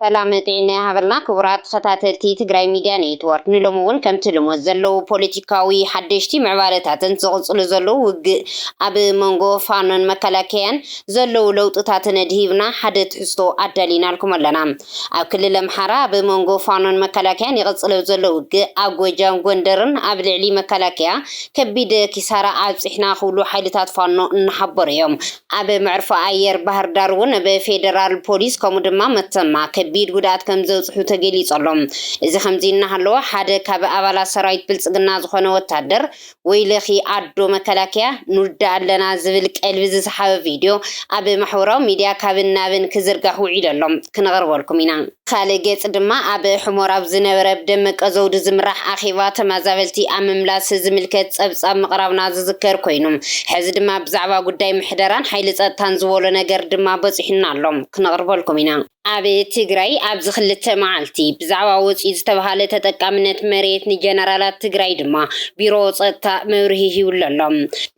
ሰላምን ጥዒናን ይሃበልና ክቡራት ተኸታተልቲ ትግራይ ሚድያ ኔትዎርክ ንሎሚ እውን ከምቲ ልሙድ ዘለዉ ፖለቲካዊ ሓደሽቲ ምዕባለታትን ዝቕፅሉ ዘለዉ ውግእ ኣብ መንጎ ፋኖን መከላከያን ዘለዉ ለውጥታትን ኣድሂብና ሓደ ትሕዝቶ ኣዳሊናልኩም ኣለና። ኣብ ክልል ኣምሓራ ብ መንጎ ፋኖን መከላከያን ይቕጽለ ዘሎ ውግእ ኣብ ጎጃም ጎንደርን ኣብ ልዕሊ መከላከያ ከቢድ ኪሳራ ኣብጺሕና ክብሉ ሓይልታት ፋኖ እናሓበሩ እዮም። ኣብ መዕርፎ ኣየር ባህርዳር እውን ብ ፌደራል ፖሊስ ከምኡ ድማ መተማ ከቢድ ጉድኣት ከምዘብጽሑ ተገሊጹ ኣሎ። እዚ ከምዚ እናሃለወ ሓደ ካብ ኣባላት ሰራዊት ብልጽግና ዝኾነ ወታደር ወይለኺ ኣዶ መከላከያ ንውዳእ ኣለና ዝብል ቀልቢ ዝሰሓበ ቪድዮ ኣብ ማሕበራዊ ሚድያ ካብን ናብን ክዝርጋሕ ውዒሉ ኣሎ። ክነቕርበልኩም ኢና። ብኻልእ ገፅ ድማ ኣብ ሕሞር ኣብ ዝነበረ ብደመቀ ዘውዱ ዝምራሕ ኣኼባ ተመዛበልቲ ኣብ ምምላስ ዝምልከት ፀብፃብ ምቕራብና ዝዝከር ኮይኑ ሕዚ ድማ ብዛዕባ ጉዳይ ምሕደራን ሓይሊ ፀጥታን ዝበሎ ነገር ድማ በፂሑና ኣሎ። ክነቕርበልኩም ኢና። ኣብ ትግራይ ኣብዚ ክልተ መዓልቲ ብዛዕባ ወፂኡ ዝተብሃለ ተጠቃምነት መሬት ንጀነራላት ትግራይ ድማ ቢሮ ፀጥታ መብርሂ ሂብሉ ኣሎ።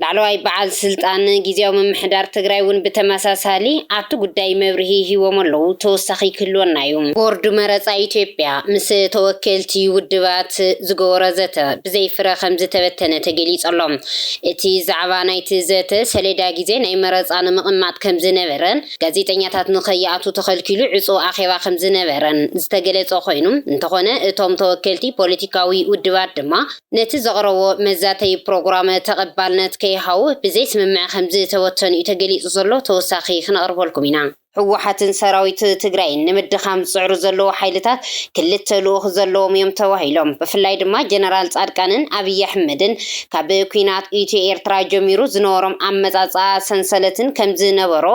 ላዕለዋይ በዓል ስልጣን ጊዚያዊ ምምሕዳር ትግራይ እውን ብተመሳሳሊ ኣብቲ ጉዳይ መብርሂ ሂቦም ኣለዉ፣ ተወሳኺ ክህልወና እዩ። ቦርድ መረፃ ኢትዮጵያ ምስ ተወከልቲ ውድባት ዝገበሮ ዘተ ብዘይ ፍረ ከምዝተበተነ ተገሊፁ ኣሎ። እቲ ዛዕባ ናይቲ ዘተ ሰሌዳ ጊዜ ናይ መረፃ ንምቕማጥ ከምዝነበረ፣ ጋዜጠኛታት ንከይኣትዉ ተኸልኪሉ ዕጹው ኣኼባ ከምዝነበረን ዝተገለጸ ኮይኑ፣ እንተኾነ እቶም ተወከልቲ ፖለቲካዊ ውድባት ድማ ነቲ ዘቕረቦ መዛተዪ ፕሮግራመ ተቐባልነት ከይሃቡ ብዘይስምምዕ ከምዝተበተኑ'ዩ ተገሊጹ ዘሎ ተወሳኺ ክነቕርበልኩም ኢና። ህወሓትን ሰራዊት ትግራይን ንምድኻም ዝፅዕሩ ዘለዉ ሓይልታት ክልተ ልኡኽ ዘለዎም እዮም ተባሂሎም። ብፍላይ ድማ ጀነራል ፃድቃንን ኣብይ ኣሕመድን ካብ ኲናት ኢትዮ-ኤርትራ ጀሚሩ ዝነበሮም ኣመጻጽኣ ሰንሰለትን ከም ዝነበሮ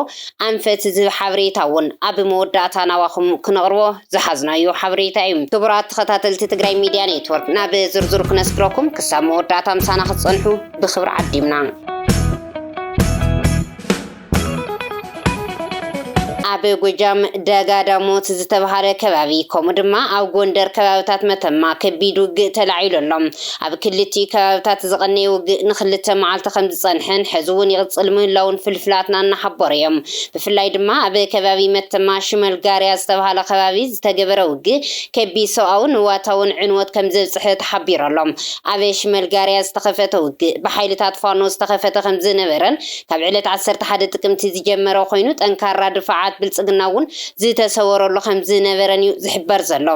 ኣንፈት ዝህብ ሓበሬታ ውን ኣብ መወዳእታ ናባኹም ክነቕርቦ ዝሓዝናዮ ሓበሬታ ዩ። ክቡራት ተኸታተልቲ ትግራይ ሚድያ ኔትወርክ ናብ ዝርዝሩ ክነስግረኩም ክሳብ መወዳእታ ምሳና ክትጸንሑ ብኽብሪ ዓዲምና። ኣብ ጎጃም ደጋ ዳሞት ዝተብሃለ ከባቢ ከምኡ ድማ ኣብ ጎንደር ከባብታት መተማ ከቢድ ውግእ ተላዒሉ ኣሎ። ኣብ ክልቲኡ ከባብታት ዝቐነየ ውግእ ንክልተ መዓልቲ ከምዝጸንሐን ሕዚ እውን ይቕጽል ምህላዉን ፍልፍላትና እናሓበሩ እዮም። ብፍላይ ድማ ኣብ ከባቢ መተማ ሽመልጋርያ ዝተብሃለ ከባቢ ዝተገበረ ውግእ ከቢድ ሰብኣውን ንዋታውን ዕንወት ከምዘብጽሐ ተሓቢሩ ኣሎ። ኣብ ሽመልጋርያ ዝተኸፈተ ውግእ ብሓይልታት ፋኖ ዝተኸፈተ ከምዝነበረን ካብ ዕለት ዓሰርተ ሓደ ጥቅምቲ ዝጀመረ ኮይኑ ጠንካራ ድፋዓት ብልፅግና እውን ዝተሰወረሉ ከምዝነበረን እዩ ዝሕበር ዘሎ።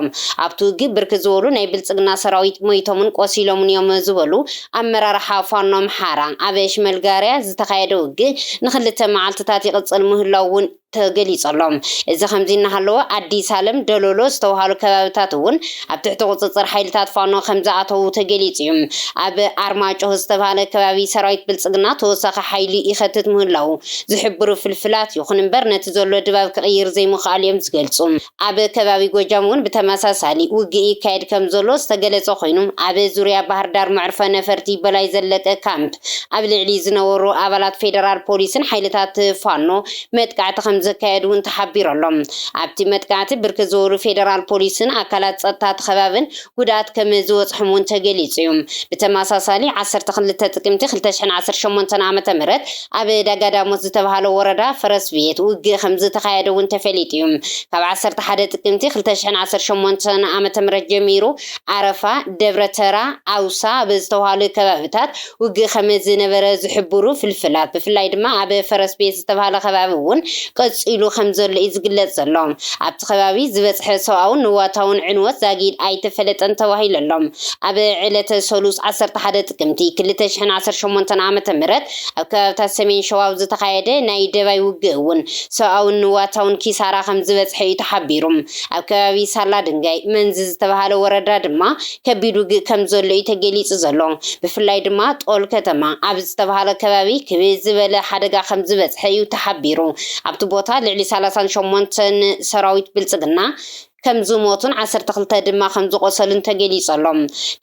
ኣብቲ ውግእ ብርክት ዝበሉ ናይ ብልፅግና ሰራዊት ሞይቶምን ቆሲሎምን እዮም ዝበሉ ኣመራርሓ ፋኖ ኣምሓራ፣ ኣብ ሽመልጋርያ ዝተኻየደ ውግእ ንክልተ መዓልቲታት ይቕፅል ምህላዉ እውን ተገሊፁ ኣሎ። እዚ ከምዚ እናሃለወ ኣዲስ ኣለም፣ ደሎሎ ዝተብሃሉ ከባቢታት እውን ኣብ ትሕቲ ቁፅፅር ሓይልታት ፋኖ ከምዝኣተዉ ተገሊፁ እዩ። ኣብ ኣርማጭሆ ዝተብሃለ ከባቢ ሰራዊት ብልፅግና ተወሳኺ ሓይሊ ይኸትት ምህላዉ ዝሕብሩ ፍልፍላት ይኹን እምበር ነቲ ዘሎ ድባብ ክቕይር ዘይምኽኣሉ እዮም ዝገልፁ። ኣብ ከባቢ ጎጃም እውን ብተመሳሳሊ ውግእ ይካየድ ከምዘሎ ዝተገለፀ ኮይኑ ኣብ ዙርያ ባህርዳር መዕርፎ ነፈርቲ በላይ ዘለቀ ካምፕ ኣብ ልዕሊ ዝነበሩ ኣባላት ፌደራል ፖሊስን ሓይልታት ፋኖ መጥቃዕቲ ከምዘካየዱ እውን ተሓቢሩ ኣሎ። ኣብቲ መጥቃዕቲ ብርክት ዝበሉ ፌደራል ፖሊስን ኣካላት ፀጥታ እቲ ከባብን ጉድኣት ከም ዝበፅሖም እውን ተገሊፁ እዩ። ብተመሳሳሊ ዓሰርተ ክልተ ጥቅምቲ ክልተ ሽሕን ዓሰርተ ሸሞንተን ዓመተ ምህረት ኣብ ዳጋዳሞት ዝተብሃለ ወረዳ ፈረስቤት ውግእ ከም ዝተኻየደ እውን ተፈሊጡ እዩ። ካብ ዓሰርተ ሓደ ጥቅምቲ ክልተ ሽሕን ዓሰርተ ሸሞንተን ዓመተ ምህረት ጀሚሩ ዓረፋ፣ ደብረ ተራ፣ ዓውሳ ኣብ ዝተብሃሉ ከባቢታት ውግእ ከመ ዝነበረ ዝሕብሩ ፍልፍላት፣ ብፍላይ ድማ ኣብ ፈረስ ቤት ዝተባህለ ከባቢ እውን ቀጺሉ ከም ዘሎ እዩ ዝግለጽ ዘሎ። ኣብቲ ከባቢ ዝበጽሐ ሰብኣውን ንዋታውን ዕንወት ዛጊድ ኣይተፈለጠን ተባሂሉ ኣሎ። ኣብ ዕለተ ሰሉስ ዓሰርተ ሓደ ጥቅምቲ ክልተ ሽሕን ዓሰርተ ሸሞንተን ዓመተ ምህረት ኣብ ከባቢታት ሰሜን ሸዋ ኣብ ዝተኻየደ ናይ ደባይ ውግእ እውን ሰብኣውን ንዋታውን ኪሳራ ከም ዝበጽሐ እዩ ተሓቢሩ። ኣብ ከባቢ ሳላ ድንጋይ መንዝ ዝተባህለ ወረዳ ድማ ከቢድ ውግእ ከም ዘሎ'ዩ ተገሊጹ ዘሎ። ብፍላይ ድማ ጦል ከተማ ኣብ ዝተባህለ ከባቢ ክብድ ዝበለ ሓደጋ ከም ዝበጽሐ'ዩ ተሓቢሩ። ኣብቲ ቦታ ልዕሊ ሰላሳን ሸሞንተን ሰራዊት ብልጽግና ከም ዝሞቱን ዓሰርተ ክልተ ድማ ከም ዝቖሰሉን ተገሊጹ ኣሎ።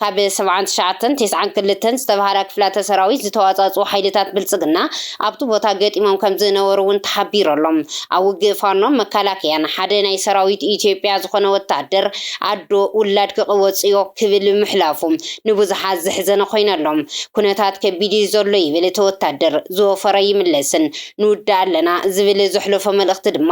ካብ ሰብዓን ትሽዓተን ቴስዓን ክልተን ዝተባህላ ክፍላተ ሰራዊት ዝተዋጻጽኡ ሓይልታት ብልጽግና ኣብቲ ቦታ ገጢሞም ከም ዝነበሩ'ውን ተሓቢሩ ኣሎ። ኣብ ውግእ ፋኖን መከላከያን ሓደ ናይ ሰራዊት ኢትዮጵያ ዝኾነ ወተሃደር ኣዶ ውላድ ክቕወጽ'ዮ ክብል ምሕላፉ ንብዙሓት ዘሕዘነ ኮይኑ ኣሎ። ኩነታት ከቢድ'ዩ ዘሎ ይብል እቲ ወታደር፣ ዝወፈረ ይምለስን ንውዳእ ኣለና ዝብል ዘሕለፎ መልእኽቲ ድማ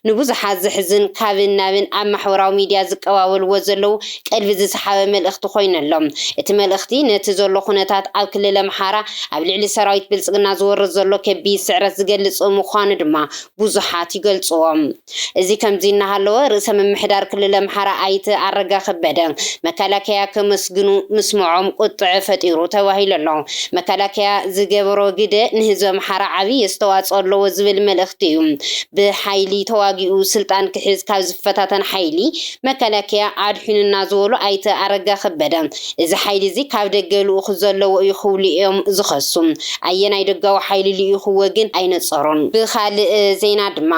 ንብዙሓት ዘሕዝን ካብን ናብን ኣብ ማሕበራዊ ሚድያ ዝቀባበልዎ ዘለዉ ቀልቢ ዝሰሓበ መልእኽቲ ኮይኑ ኣሎ። እቲ መልእኽቲ ነቲ ዘሎ ኩነታት ኣብ ክልል ኣምሓራ ኣብ ልዕሊ ሰራዊት ብልጽግና ዝወርድ ዘሎ ከቢድ ስዕረት ዝገልጽ ምዃኑ ድማ ብዙሓት ይገልጽዎ። እዚ ከምዚ እናሃለወ ርእሰ ምምሕዳር ክልል ኣምሓራ ኣይተ ኣረጋ ከበደ መከላከያ ከመስግኑ ምስምዖም ቁጥዐ ፈጢሩ ተባሂሉ ኣሎ። መከላከያ ዝገበሮ ግደ ንህዝቢ ኣምሓራ ዓብዪ ኣስተዋፅኦ ኣለዎ ዝብል መልእኽቲ እዩ። ብሓይሊ ተዋጊኡ ስልጣን ክሕዝ ካብ ዝፈታተን ሓይሊ መከላከያ ኣድሒኑና ዝበሉ ኣይተ ኣረጋ ከበደ፣ እዚ ሓይሊ እዚ ካብ ደገ ልኡኽ ዘለዎ እዩ ክብሉ እዮም ዝኸሱ። ኣየናይ ደጋዊ ሓይሊ ልኢኹዎ ግን ኣይነጸሩን። ብኻልእ ዜና ድማ፣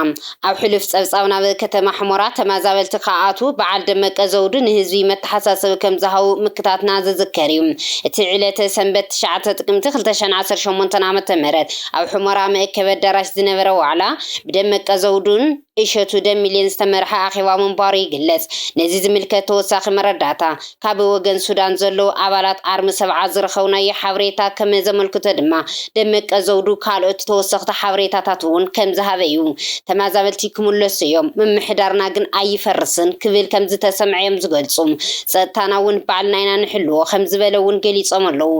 ኣብ ሕሉፍ ጸብጻብ ናብ ከተማ ሑመራ ተመዛበልቲ ክኣትዉ በዓል ደመቀ ዘውዱ ንህዝቢ መተሓሳሰቢ ከም ዝሃቡ ምክታትና ዝዝከር እዩ። እቲ ዕለተ ሰንበት ትሽዓተ ጥቅምቲ ክልተ ሽሕን ዓሰርተ ሸሞንተን ዓመተ ምህረት ኣብ ሑመራ መእከቢ ኣዳራሽ ዝነበረ ዋዕላ ብደመቀ ዘውዱን እሸቱ ደሚሌን ዝተመርሐ ኣኼባ ምንባሩ ይግለጽ። ነዚ ዝምልከት ተወሳኺ መረዳእታ ካብ ወገን ሱዳን ዘለዉ ኣባላት ኣርሚ ሰብዓ ዝረኸብናዮ ሓበሬታ ከም ዘመልክቶ ድማ ደመቀ ዘውዱ ካልኦት ተወሰኽቲ ሓበሬታታት'ውን ከም ዝሃበ'ዩ። ተመዛበልቲ ክምለሱ'ዮም፣ ምምሕዳርና ግን ኣይፈርስን ክብል ከም ዝተሰምዐ'ዮም ዝገልጹ። ጸጥታና'ውን ባዕልና ኢና ንሕልዎ ከም ዝበለ'ውን ገሊጾም ኣለዉ።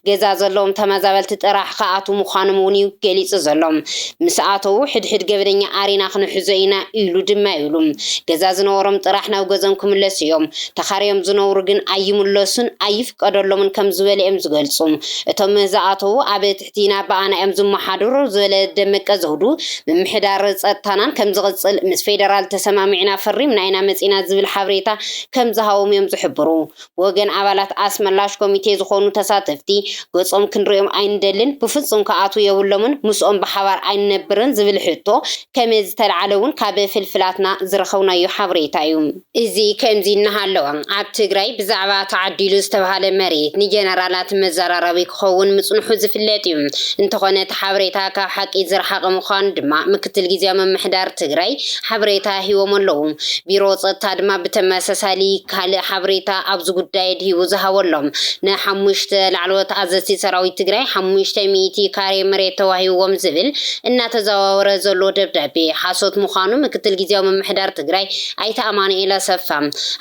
ገዛ ዘለዎም ተመዛበልቲ ጥራሕ ክኣትዉ ምዃኖም'ውን'ዩ ገሊጹ ዘሎ። ምስ ኣተዉ ሕድሕድ ገበነኛ ኣሪና ክንሕዞ ኢና ኢሉ ድማ ይብሉ ገዛ ዝነበሮም ጥራሕ ናብ ገዝኦም ክምለሱ እዮም ተኻርዮም ዝነብሩ ግን ኣይምለሱን ኣይፍቀደሎምን ከም ዝበለ እዮም ዝገልፁ እቶም ዝኣተዉ ኣብ ትሕቲና ብኣና እዮም ዝመሓደሩ ዝበለ ደመቀ ዘውዱ ምምሕዳር ፀጥታናን ከም ዝቕፅል ምስ ፌደራል ተሰማሚዕና ፈሪምና ኢና መፂና ዝብል ሓበሬታ ከም ዝሃቦም እዮም ዝሕብሩ ወገን ኣባላት ኣስመላሽ ኮሚቴ ዝኾኑ ተሳተፍቲ፣ ገጾም ክንርእዮም ኣይንደልን፣ ብፍጹም ክኣትዉ የብሎምን፣ ምስኦም ብሓባር ኣይንነብርን ዝብል ሕቶ ከመዝተልዓለ'ውን ካብ ፍልፍላትና ዝረኸብናዮ ሓበሬታ'ዩ። እዚ ከምዚ እናሃለወ፣ ኣብ ትግራይ ብዛዕባ ተዓዲሉ ዝተብሃለ መሬት ንጀነራላት መዘራረቢ ክኸውን ምጽንሑ ዝፍለጥ'ዩ። እንተኾነ እቲ ሓበሬታ ካብ ሓቂ ዝረሓቐ ምዃኑ ድማ ምክትል ግዝያዊ ምምሕዳር ትግራይ ሓበሬታ ሂቦም ኣለዉ። ቢሮ ጸጥታ ድማ ብተመሳሳሊ ካልእ ሓበሬታ ኣብዚ ጉዳይ ኣድሂቡ ዝሃበሎም ንሓሙሽተ ላዕለዎት ኣዘዝቲ ሰራዊት ትግራይ ሓሙሽተ ሚእቲ ካሬ መሬት ተዋሂብዎም ዝብል እናተዘዋወረ ዘሎ ደብዳቤ ሓሶት ምዃኑ ምክትል ግዝያዊ ምምሕዳር ትግራይ ኣይተ ኣማኑኤል ኣሰፋ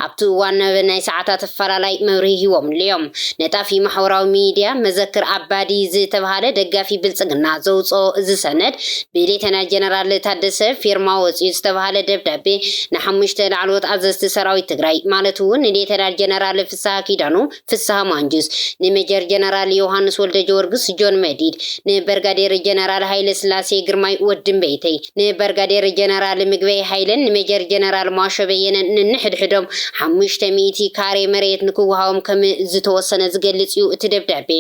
ኣብቲ እዋን ኣብ ናይ ሰዓታት ኣፈላላይ መብርሂ ሂቦምሉ'ዮም። ነጣፊ ማሕበራዊ ሚድያ መዘክር ኣባዲ ዝተብሃለ ደጋፊ ብልጽግና ዘውጽኦ እዚ ሰነድ ብሌተና ጀነራል ታደሰ ፊርማ ወፂኡ ዝተብሃለ ደብዳቤ ንሓሙሽተ ላዕለዎት ኣዘዝቲ ሰራዊት ትግራይ ማለት እውን ንሌተናል ጀነራል ፍስሃ ኪዳኑ፣ ፍስሃ ማንጁስ፣ ንሜጀር ጀነራል ዮውሃንስ ወልደጀወርግስ፣ ጆን መዲድ፣ ንበርጋዴር ጀነራል ሃይለስላሴ ግርማይ፣ ወዲ እምበይተይ፣ ንበርጋዴር ጀነራል ምግበይ ሃይለን ንሜጀር ጀነራል ሟሾ በየነን ነንሕድሕዶም ሓሙሽተ ሚእቲ ካሬ መሬት ንክወሃቦም ከም ዝተወሰነ ዝገልፅ እዩ እቲ ደብዳቤ።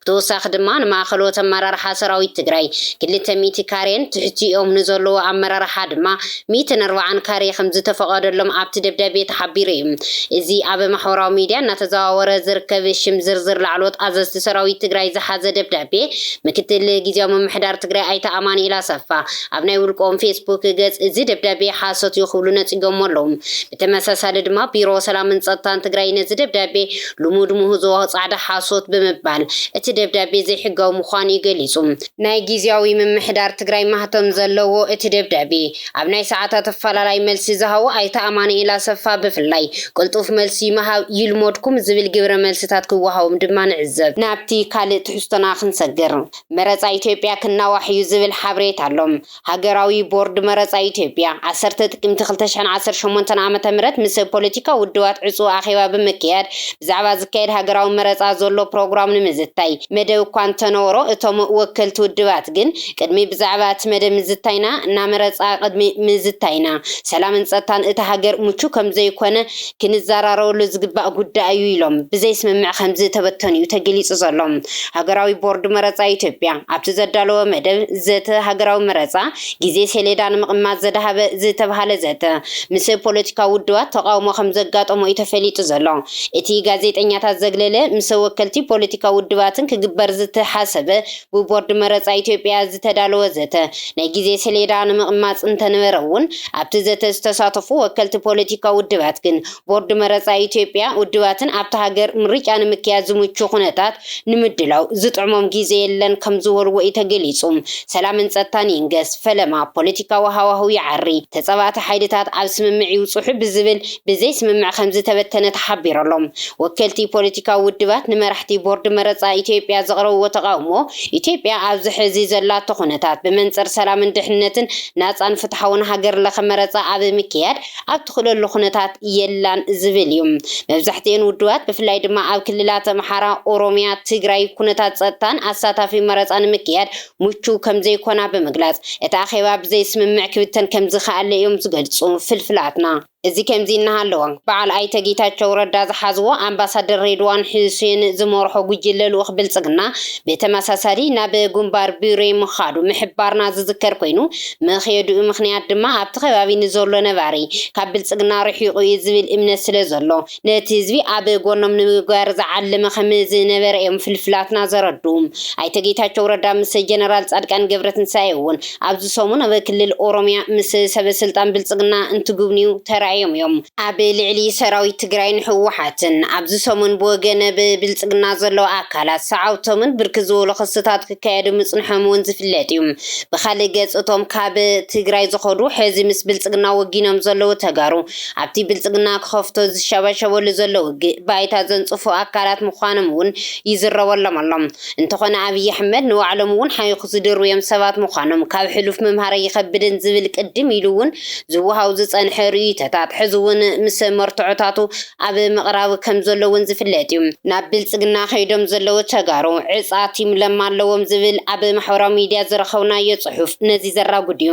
ብተወሳኺ ድማ ንማእኸሎት ኣመራርሓ ሰራዊት ትግራይ ክልተ ሚእቲ ካሬን ትሕቲኦም ንዘለዉ ኣመራርሓ ድማ ሚእትን ኣርባዓን ካሬ ከምዝተፈቐደሎም ኣብቲ ደብዳቤ ተሓቢሩ እዩ። እዚ ኣብ ማሕበራዊ ሚድያ እናተዘዋወረ ዝርከብ ሽም ዝርዝር ላዕለዎት ኣዘዝቲ ሰራዊት ትግራይ ዝሓዘ ደብዳቤ ምክትል ጊዚያዊ ምምሕዳር ትግራይ ኣይተ ኣማኑኤል ኣሰፋ ኣብ ናይ ውልቆም ፌስቡክ ገፅ እዚ ደብዳቤ ሓሶት እዩ ክብሉ ነፂጎሞ ኣለዉ። ብተመሳሳሊ ድማ ቢሮ ሰላምን ፀጥታን ትግራይ ነዚ ደብዳቤ ልሙድ ምህዞ ጻዕዳ ሓሶት ብምባል እቲ ደብዳቤ ዘይሕጋዊ ምዃኑ'ዩ ገሊጹ። ናይ ጊዚያዊ ምምሕዳር ትግራይ ማህተም ዘለዎ እቲ ደብዳቤ፣ ኣብ ናይ ሰዓታት ኣፈላላይ መልሲ ዝሃቡ ኣይተ ኣማኑኤል ኣሰፋ ብፍላይ፣ ቅልጡፍ መልሲ ምሃብ ይልሞድኩም ዝብል ግብረ መልስታት ክወሃቦም ድማ ንዕዘብ። ናብቲ ካልእ ትሕዝቶና ክንሰግር፣ መረጻ ኢትዮጵያ ክናዋሕ'ዩ ዝብል ሓበሬታ ኣሎ። ሃገራዊ ቦርድ መረጻ ኢትዮጵያ፣ ዓሰርተ ጥቅምቲ ክልተ ሽሕን ዓሰርተ ሸሞንተን ዓመተ ምህረት ምስ ፖለቲካዊ ውድባት ዕጹው ኣኼባ ብምክያድ ብዛዕባ ዝካየድ ሃገራዊ መረጻ ዘሎ ፕሮግራም ንምዝታይ መደብ እኳ እንተነበሮ እቶም ወከልቲ ውድባት ግን ቅድሚ ብዛዕባ እቲ መደብ ምዝታይና ናመረጻ ቅድሚ ምዝታይና ሰላምን ጸጥታን እታ ሃገር ምቹው ከምዘይኮነ ክንዘራረበሉ ዝግባእ ጉዳይ እዩ ኢሎም ብዘይስምምዕ ከምዝተበተኑ'ዩ ተገሊፁ ዘሎ። ሃገራዊ ቦርድ መረፃ ኢትዮጵያ ኣብቲ ዘዳለዎ መደብ ዘተ ሃገራዊ መረፃ ግዜ ሰሌዳ ንምቕማጥ ዘድሃበ ዝተብሃለ ዘተ ምስ ፖለቲካዊ ውድባት ተቓውሞ ከምዘጋጠሞ እዩ ተፈሊጡ ዘሎ። እቲ ጋዜጠኛታት ዘግለለ ምስ ወከልቲ ፖለቲካዊ ውድባትን ክግበር ዝተሓሰበ ብቦርድ መረጻ ኢትዮጵያ ዝተዳለወ ዘተ ናይ ግዜ ሰሌዳ ንምቕማጽ እንተነበረ'ውን፣ ኣብቲ ዘተ ዝተሳተፉ ወከልቲ ፖለቲካዊ ውድባት ግን፣ ቦርድ መረጻ ኢትዮጵያ፣ ውድባትን ኣብታ ሃገር ምርጫ ንምክያድ ዝምቹ ኩነታት ንምድላው ዝጥዕሞም ግዜ የለን ከምዝበሉዎ'ዩ ተገሊጹ። ሰላምን ጸጥታን ይንገስ፣ ፈለማ ፖለቲካዊ ሃዋህው ይዓሪ፣ ተጻባእቲ ሓይልታት ኣብ ስምምዕ ይብጽሑ ብዝብል ብዘይ ስምምዕ ከምዝተበተነ ተሓቢሩ ኣሎ። ወከልቲ ፖለቲካዊ ውድባት ንመራሕቲ ቦርድ መረጻ ኢትዮጵያ ዘቕረብዎ ተቓውሞ፣ ኢትዮጵያ ኣብዚ ሕዚ ዘላቶ ኩነታት፣ ብመንጽር ሰላምን ድሕንነትን ናጻን ፍትሓውን ሃገር ለኸ መረጻ ኣብ ምክያድ ኣብ ትኽእለሉ ኩነታት የላን ዝብል እዩ። መብዛሕትኤን ውድባት ብፍላይ ድማ ኣብ ክልላት ኣምሓራ፣ ኦሮሚያ፣ ትግራይ ኩነታት ጸጥታን ኣሳታፊ መረጻ ንምክያድ ምቹው ከምዘይኮና ብምግላጽ፣ እቲ ኣኼባ ብዘይስምምዕ ክብተን ከምዝኸኣለ እዮም ዝገልጹ ፍልፍላትና። እዚ ከምዚ እናሃለወ፣ በዓል ኣይተ ጌታቸው ረዳ ዝሓዝዎ ኣምባሳደር ሬድዋን ሑሴን ዝመርሖ ጉጅለ ልኡኽ ብልጽግና ብተመሳሳሊ ናብ ጉንባር ቡሬ ምኻዱ ምሕባርና ዝዝከር ኮይኑ፣ መኽየድኡ ምኽንያት ድማ ኣብቲ ከባቢ ንዘሎ ነባሪ ካብ ብልጽግና ርሒቑ እዩ ዝብል እምነት ስለዘሎ ነቲ ህዝቢ ኣብ ጎኖም ንምግባር ዝዓለመ ከም ዝነበረ እዮም ፍልፍላትና ዘረድኡ። ኣይተ ጌታቸው ረዳ ምስ ጀነራል ፃድቃን ገብረትንሳኤ እውን ኣብዚ ሰሙን ኣብ ክልል ኦሮሚያ ምስ ሰበ ስልጣን ብልፅግና እንትጉብንዩ ተራእዮም እዮም። ኣብ ልዕሊ ሰራዊት ትግራይን ህወሓትን ኣብዚ ሰሙን ብወገነ ብልፅግና ዘለዉ ኣካላት ሰዓብቶምን ብርክት ዝበሉ ክስታት ክካየዱ ምፅንሖም እውን ዝፍለጥ እዩ። ብኻሊእ ገፅ እቶም ካብ ትግራይ ዝኸዱ ሕዚ ምስ ብልፅግና ወጊኖም ዘለዉ ተጋሩ ኣብቲ ብልፅግና ክኸፍቶ ዝሸባሸበሉ ዘሎ ውግእ ባይታ ዘንፅፉ ኣካላት ምዃኖም እውን ይዝረበሎም ኣሎ። እንተኾነ ኣብይ ኣሕመድ ንባዕሎም እውን ሓይኹ ዝድርብዮም ሰባት ምዃኖም ካብ ሕሉፍ ምምሃር ኣይኸብድን ዝብል ቅድም ኢሉ እውን ዝወሃቡ ዝፀንሐ ርእይቶታት ሕዚ እውን ምስ መርትዖታቱ ኣብ ምቕራብ ከምዘሎ እውን ዝፍለጥ እዩ። ናብ ብልፅግና ከይዶም ዘለዉ ተጋሩ ዕፃ ቲም ለማ ኣለዎም ዝብል ኣብ ማሕበራዊ ሚዲያ ዝረኸብናዮ ፅሑፍ ነዚ ዘራጉድ እዩ።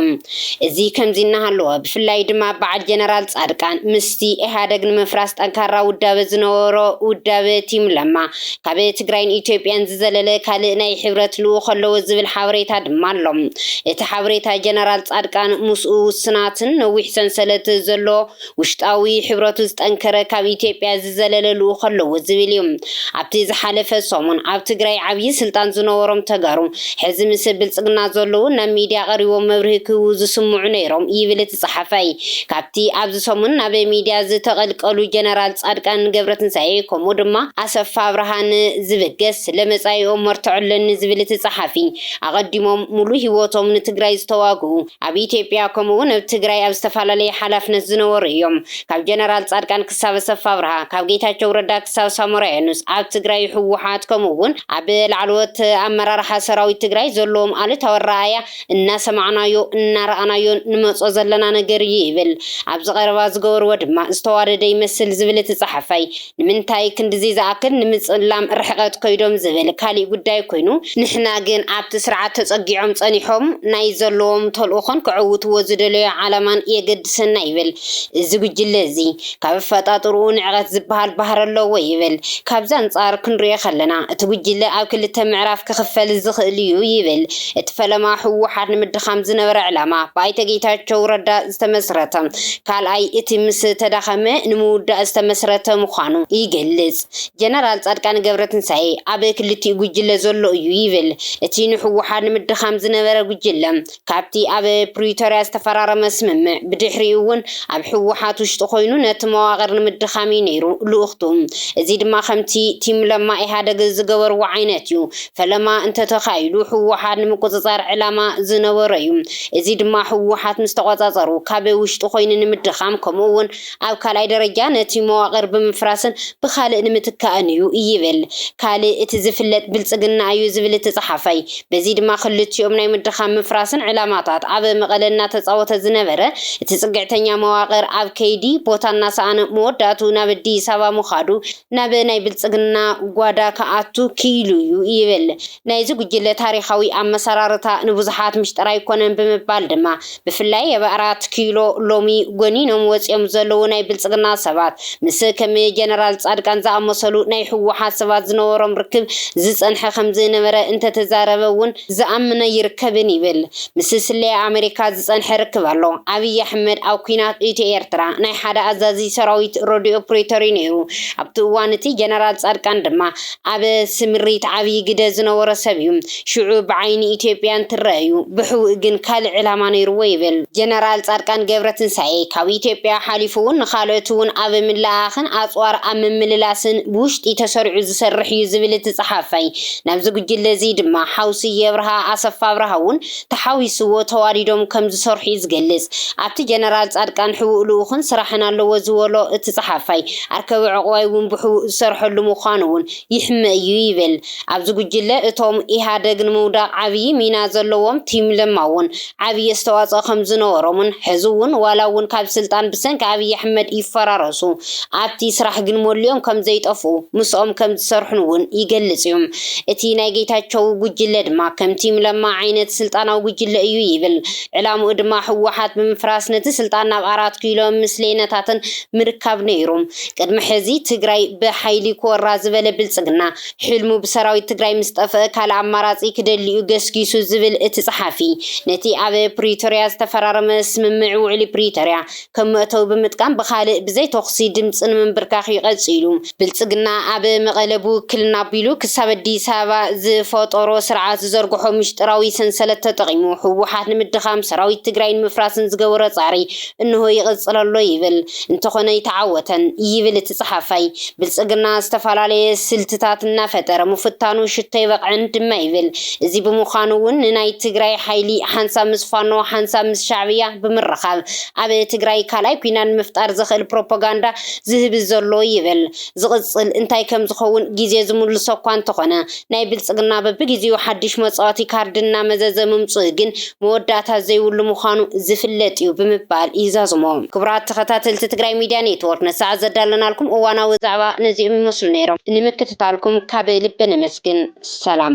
እዚ ከምዚ እናሃለወ ብፍላይ ድማ በዓል ጀነራል ፃድቃን ምስቲ ኢህኣደግ ንምፍራስ ጠንካራ ውዳበ ዝነበሮ ውዳበ ቲም ለማ ካብ ትግራይን ኢትዮጵያን ዝዘለለ ካልእ ናይ ሕብረት ልኡኽ ኣለዎ ዝብል ሓበሬታ ድማ ኣሎ። እቲ ሓበሬታ ጀነራል ፃድቃን ምስኡ ውስናትን ነዊሕ ሰንሰለት ዘሎ ውሽጣዊ ሕብረቱ ዝጠንከረ ካብ ኢትዮጵያ ዝዘለለ ልኡኽ ኣለዎ ዝብል እዩ። ኣብቲ ዝሓለፈ ሰሙን ኣብ ትግራይ ዓብዪ ስልጣን ዝነበሮም ተጋሩ ሕዚ ምስ ብልፅግና ዘለዉ ናብ ሚድያ ቀሪቦም መብርሂ ክህቡ ዝስምዑ ነይሮም ይብል እቲ ፀሓፋይ። ካብቲ ኣብዚ ሰሙን ናብ ሚድያ ዝተቐልቀሉ ጀነራል ፃድቃን ገብረትንሳኤ ከምኡ ድማ ኣሰፋ ኣብርሃ ን ዝብገስ ስለ መፃኢኦም መርትዖ ኣለኒ ዝብል እቲ ፀሓፊ ኣቐዲሞም ሙሉእ ህይወቶም ንትግራይ ዝተዋግኡ ኣብ ኢትዮጵያ ከምኡ ውን ኣብ ትግራይ ኣብ ዝተፋላለየ ሓላፍነት ዝነበሩ እዮም። ካብ ጀነራል ፃድቃን ክሳብ ኣሰፋ ኣብርሃ፣ ካብ ጌታቸው ረዳ ክሳብ ሳሞራ የኑስ ኣብ ትግራይ ህወሓት ከምኡ ውን ኣብ ላዕለዎት ኣመራርሓ ሰራዊት ትግራይ ዘለዎም ኣሉታዊ ኣረኣእያ እናሰማዕናዮ እናረኣናዮን ንመፆ ዘለና ነገር እዩ ይብል። ኣብዚ ቀረባ ዝገበርዎ ድማ ዝተዋደደ ይመስል ዝብል እቲ ፀሓፋይ፣ ንምንታይ ክንድዚ ዝኣክል ንምጽላም ርሕቐት ከይዶም ዝብል ካሊእ ጉዳይ ኮይኑ ንሕና ግን ኣብቲ ስርዓት ተጸጊዖም ጸኒሖም ናይ ዘለዎም ተልእኾን ከዕውትዎ ዝደለዮ ዓላማን የገድሰና ይብል እዚ ጉጅለ እዚ ካብ ኣፈጣጥርኡ ንዕቐት ዝብሃል ባህሪ ኣለዎ ይብል ካብዚ ኣንጻር ክንሪኦ ከለና እቲ ጉጅለ ኣብ ክልተ ምዕራፍ ክኽፈል ዝኽእል'ዩ ይብል እቲ ፈለማ ህወሓት ንምድኻም ዝነበረ ዕላማ ብኣይተ ጌታቸው ረዳ ዝተመስረተ፣ ካልኣይ እቲ ምስ ተዳኸመ ንምውዳእ ዝተመስረተ ምዃኑ ይገልጽ። ጀነራል ጻድቃን ገብረትንሳኤ ኣብ ክልቲኡ ጉጅለ ዘሎ እዩ ይብል። እቲ ንህወሓት ንምድኻም ዝነበረ ጉጅለ ካብቲ ኣብ ፕሪቶርያ ዝተፈራረመ ስምምዕ ብድሕሪኡ እውን ኣብ ህወሓት ውሽጢ ኮይኑ ነቲ መዋቕር ንምድኻም እዩ ነይሩ ልኡኽቱ። እዚ ድማ ከምቲ ቲም ለማ ኢህኣደግ ዝገበርዎ ዓይነት እዩ። ፈለማ እንተተኻኢሉ ህወሓት ንምቁፅፃር ዕላማ ዝነበሮ እዩ። እዚ ድማ ህወሓት ምስ ተቖፃፀሩ ካብ ውሽጢ ኮይኑ ንምድኻም ከምኡ እውን ኣብ ካልኣይ ደረጃ ነቲ መዋቕር ብምፍራስን ብኻልእ ንምትካእን እዩ ይብል ካልእ እቲ ዝፍለጥ ብልፅግና እዩ ዝብል እቲ ፀሓፋይ በዚ ድማ ክልቲኦም ናይ ምድኻም ምፍራስን ዕላማታት ኣብ መቐለ እናተፃወተ ዝነበረ እቲ ፅግዕተኛ መዋቕር ኣብ ከይዲ ቦታ እናሰኣነ መወዳእትኡ ናብ ኣዲስ ኣበባ ምኻዱ ናብ ናይ ብልፅግና ጓዳ ክኣቱ ክኢሉ እዩ ይብል። ናይዚ ጉጅለ ታሪኻዊ ኣመሰራርታ ንብዙሓት ምስጢር ኣይኮነን ብምባል ድማ ብፍላይ ኣብ ኣራት ኪሎ ሎሚ ጎኒኖም ወጺኦም ዘለዉ ናይ ብልጽግና ሰባት ምስ ከም ጀነራል ጻድቃን ዝኣመሰሉ ናይ ህወሓት ሰባት ዝነበሮም ርክብ ዝጸንሐ ከምዝነበረ እንተተዛረበ እውን ዝኣምን ኣይርከብን ይብል። ምስ ስለያ ኣመሪካ ዝጸንሐ ርክብ ኣሎ። ኣብይ ኣሕመድ ኣብ ኲናት ኢትዮ ኤርትራ ናይ ሓደ ኣዛዚ ሰራዊት ረድዮ ፕሪቶሪ ነይሩ። ኣብቲ እዋን እቲ ጀነራል ጻድቃን ድማ ኣብ ስምሪት ዓብዪ ግደ ዝነበሮ ሰብ እዩ። ሽዑ ብዓይኒ ኢትዮጵያ እንትረኣ'ዩ፣ ብሕቡእ ግን ካልእ ዕላማ ነይሩዎ ይብል። ጀነራል ጻድቃን ገብረትንሳኤ፣ ካብ ኢትዮጵያ ሓሊፉ'ውን ንኻልኦት'ውን ኣብ ምልእኣኽን ኣጽዋር ኣብ ምምልላስን ብውሽጢ ተሰሪዑ ዝሰርሕ'ዩ ዝብል እቲ ጸሓፋይ፣ ናብዚ ጉጅለ'ዚ ድማ ሓው ስዬ ኣብርሃ፣ ኣሰፋ ኣብርሃ'ውን ተሓዊስዎ ተዋዲዶም ከም ዝሰርሑ'ዩ ዝገልጽ። ኣብቲ ጀነራል ጻድቃን ሕቡእ ልኡኽን ስራሕን ኣለዎ ዝበሎ እቲ ጸሓፋይ፣ ኣርከበ ዑቕባይ'ውን ብሕቡእ ዝሰርሐሉ ምዃኑ'ውን ይሕመ እዩ ይብል። ኣብዚ ጉጅለ እቶም ኢህኣደግ ንምውዳቕ ዓብዪ ሚና ዘለዎም ቲም ለማ'ውን ዓብዪ ኣስተዋጽኦ ከም ዝነበሮምን ሕዚ'ውን ዋላ'ውን ካብ ስልጣን ብሰንኪ ኣብይ ኣሕመድ ይፈራረሱ ኣብቲ ስራሕ ግን መሊኦም ከም ዘይጠፍኡ ምስኦም ከም ዝሰርሑን'ውን ይገልጽ'ዩ። እቲ ናይ ጌታቸው ጉጅለ ድማ ከም ቲም ለማ ዓይነት ስልጣናዊ ጉጅለ እዩ ይብል። ዕላምኡ ድማ ህወሓት ብምፍራስ ነቲ ስልጣን ናብ ኣራት ኪሎ ምስሌነታትን ምርካብ ነይሩ። ቅድሚ ሕዚ ትግራይ ብሓይሊ ክወራ ዝበለ ብልፅግና ሕልሙ ብሰራዊት ትግራይ ምስ ጠፍእ ካልእ ኣማራፂ ክደሊ'ዩ ገስጊሱ ዝብል እቲ ፀሓፊ ነቲ ኣብ ፕሪቶሪያ ዝተፈራረመ ስምምዕ ውዕሊ ፕሪቶሪያ ከም መእተዊ ብምጥቃም ብኻልእ ብዘይ ተኹሲ ድምፂ ንምንብርካኽ ዩ ቀፂሉ። ብልፅግና ኣብ መቐለ ብውክልና ኣቢሉ ክሳብ ኣዲስ ኣበባ ዝፈጠሮ ስርዓት ዝዘርግሖ ምሽጥራዊ ሰንሰለት ተጠቒሙ ህወሓት ንምድኻም ሰራዊት ትግራይ ንምፍራስን ዝገበሮ ፃዕሪ እነሆ ይቕፅል ኣሎ ይብል እንተኾነ ኣይተዓወተን ይብል እቲ ፀሓፋይ ብልፅግና ዝተፈላለየ ስልትታት እናፈጠረ ምፍታኑ ሽቶ ኣይበቕዕን ድማ ይብል እዚ ብምዃኑ ውን ንናይ ትግራይ ሓይሊ ሓንሳብ ምስ ፋኖ ሓንሳብ ምስ ሻዕብያ ብምርኻብ ኣብ ትግራይ ካልኣይ ኲናት ንምፍጣር ዘኽእል ፕሮፖጋንዳ ዝህቢ ዘሎ ይብል። ዝቕፅል እንታይ ከምዝኸውን ጊዜ ዝምልሶ እኳ እንተኾነ ናይ ብልፅግና በብጊዜኡ ሓዱሽ መፃወቲ ካርዲ እናመዘዘ ምምፅኡ ግን መወዳእታ ዘይብሉ ምዃኑ ዝፍለጥ እዩ ብምባል ይዛዝሞ። ክቡራት ተኸታተልቲ ትግራይ ሚድያ ኔትዎርክ ንሰዓት ዘዳለናልኩም እዋናዊ ዛዕባ ነዚኦም ይመስሉ ነይሮም። ንምክትታልኩም ካብ ልቢ ነመስግን። ሰላም።